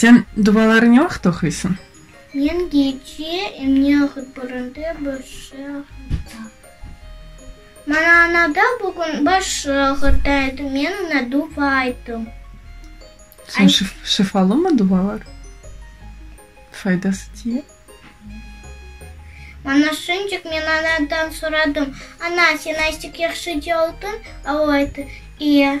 Sen duvalarıñı vaqıt oquysiñ? Men gece emniye aqıtlarında başı ağırta. Maña anada bugün başı ağırta edi, men oña duva ayttım. Soñ şifalımı duvalar? Faydası tiye? Maña şunçük men anadan soradım, Ana, sen azcık yahşı caldın? A o ayttı, E.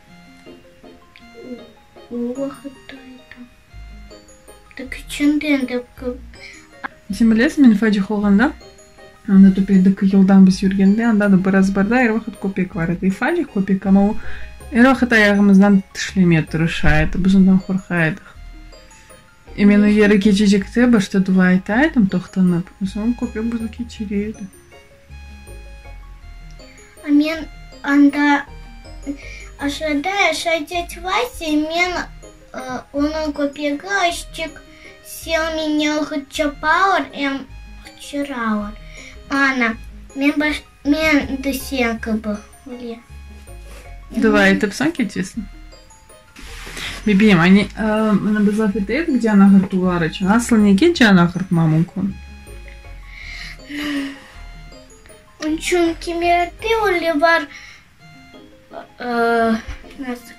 O vaqıtta edim. Da küçündi endi kı. Sen bilesiñ, men fecih olğanda, anda töpedeki yoldan biz yürgende, anda da biraz barda er vaqıt köpek bar edi. Fecih köpek, amma o er vaqıt ayağımızdan tişlemeye tırışa edi. Biz ondan qorqa edıq. Men o yere keçecekte başta dua ete edim toqtanıp, soñ köpek bizni keçire edi. Men anda aşağıda yaşay teti Vasya, men onıñ köpegi Aşçik, sen meni hıç çapa or, em hıçıra or. Ana, men de sen kibi, Hulya. Dua etip soñ keçesiñ. Bibim, anne, mına biz laf eteydik can ağırtuvlar içün. Aslı nege can ağırtma mümkün? Çünki miyakta öyle bar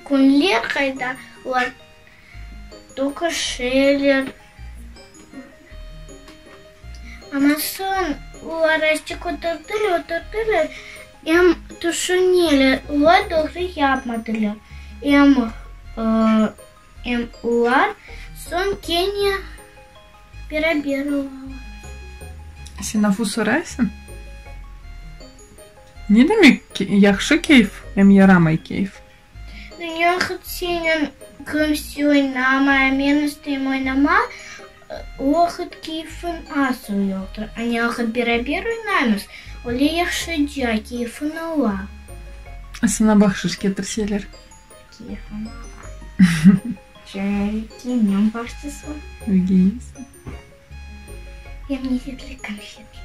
künler, qayda olar toquşırlar. Amma soñ o araşçı köterdiler, öterdiler, em tüşüneler, olar doğru yapmadılar. Em, em olar soñ kene beraber olalar. Sen afu soraysıñ? Ne demek yahşı keyf, em yaramay keyf? Dünya hıç senen kümse oynamay, a men isteyim oynama, o hıç keyfin asıl yoqtır. Ane ahıt beraber oynaymız, öyle yahşıca keyfin ala. A saña bahşış ketirseler? Keyfim ala. Çünki men başçısım. Bilgeysiñ. Yemyeşillik konfetler.